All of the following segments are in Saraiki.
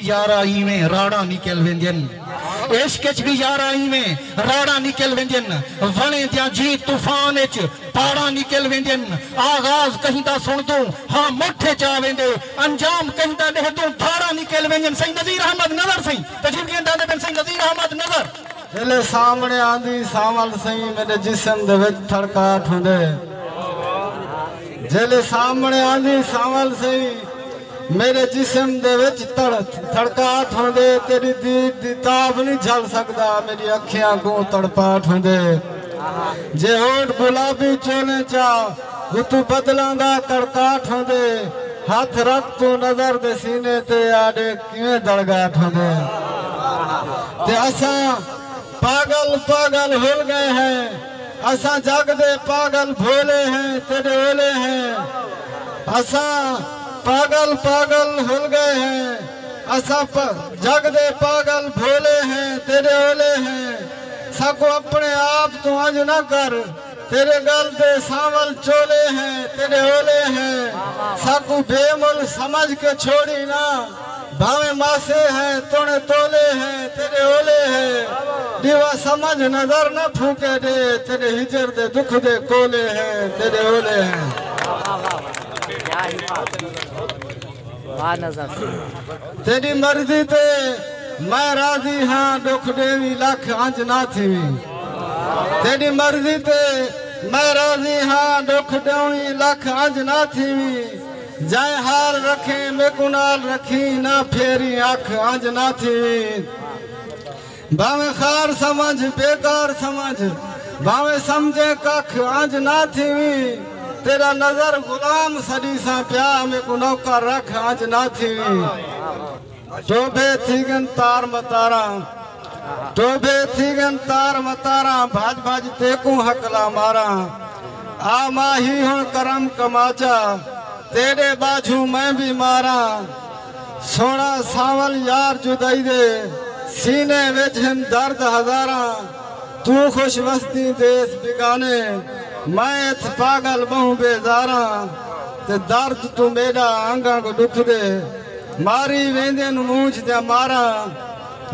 یارا ایویں راڑاں نکل ویندین عشق اچ وی یارا ایویں راڑاں نکل ویندین وݨیں دیاں جی طوفان اچ پاڑاں نکل ویندین آغاز کہیں دا سݨ دوں ہاں مٹھ اچ آ ویندے انجام کہیں دا ݙیہہ دوں دھاڑاں نکل ویندین سئیں نذیر احمد نذر سئیں تجیب گیند آندے پن سئیں نذیر احمد نذر۔ جیلے سامنے آندی ساول سئیں میڈے جسم دے وچ تھڑکاٹ ہوندے جیلے سامنے آندی ساول سئیں میڈے جسم دے وچ تھڑکاٹ ہوندے تیری دید دی تاب نہیں جھل سکدا میڈی اکھیاں کوں تڑپاٹ ہوندے جے ہوٹ گلابی چولیں چا اتو بدلاں دا کڑکاٹ ہوندے ہتھ رکھ توں نظر دے سینے تے آڈے کیویں دڑ گئے اتھاندے تے اساں پاگل پاگل ہل گئے ہیں اساں جگ دے پاگل بھولے ہیں تیڈے اولے ہیں اساں پاگل پاگل ہل گئے ہیں اساں جگ دے پاگل بھولے ہیں تیڈے اولے ہیں ساکوں اپنے آپ توں انج نہ کر تیݙے ڳل دے سانول چولے ہیں تیݙے اولے ہیں ساکوں بے مل سمجھ کے چھوڑی نا بھانویں ماسے ہیں توݨے تولے ہیں تیݙے اولے ہیں ݙیوا سمجھ نظر نہ پھوکے ݙے تیݙے ہجر دے دکھ دے کولے ہیں تیݙے اولے ہیں۔ تیݙی مرضی تے میں راضی ہاں ݙکھ ݙیویں لکھ انج نہ تھیویں تیݙی مرضی تے میں راضی ہاں ݙکھ ݙیویں لکھ انج نہ تھیویں جئیں حال رکھیں میکوں نال رکھیں نہ پھیریں اکھ انج نہ تھیویں بھانویں خار سمجھ بیکار سمجھ بھانویں سمجھیں ککھ انج نہ تھیویں تیڈا نظر غلام سڈیساں پیا میکوں نوکر رکھ انج نہ تھیویں ٹوبھے تھی گن تار متاراں ٹوبھے تھی گن تار متاراں بھج بھج تیکوں ہکلا ماراں آ ماہی ہن کرم کماچا تیڈے باجھوں میں بھی ماراں سوہݨا سانول یار جدائی دے سینے وچ ہن درد ہزاراں توں خوش وسدیں دیس بیگانے میں اتھ پاگل ٻہوں بیزاراں تے درد توں میݙا انگاں کوں ݙکھدے ماری ویندین مونجھ دیاں ماراں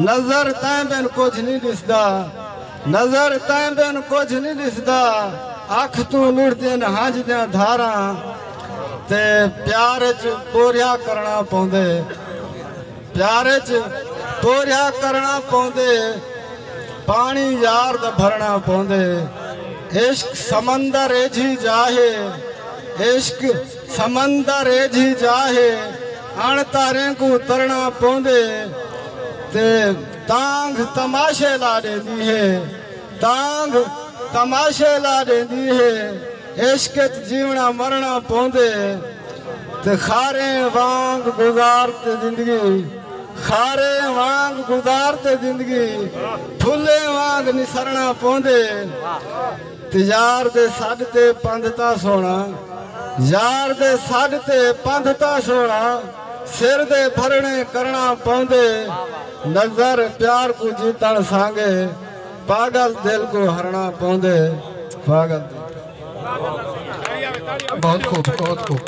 نظر تیں بن کجھ نی ݙسدا نظر تیندن کجھ نی ڈسدا اکھ توں لڑھدین ہنج دیاں دھاراں تے پیار اچ پورھیا کرنا پوندے پیار اچ پورھیا کرنا پوندے پانی یار دا بھرنا پوندے عشق سمندر ایجھی جا ہے عشق سمندر ایجھی جا ہے اݨ تاریں کوں ترنا پوندے تے تانگھ تماشے لا ݙیندی ہے تانگھ تماشے لا ݙیندی ہے عشق اچ جیوݨا مرݨا پوندے تے خاریں وانگ گزار تے زندگی خاریں وانگ گزار تے زندگی پھلیں وانگ نسرݨا پوندے تے یار دے سݙ تے پندھ تاں سوہݨا یار دے سݙ تے پندھ تاں سوہݨا سر دے بھرݨے کرݨا پوندے نظر پیار کوں جیتݨ سانگے پاڳل دل کوں ہرݨا پوندے پاڳل دل کوں ہرݨا پوندے۔ بہت خوب بہت خوب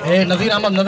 اے نذیر احمد نذیر۔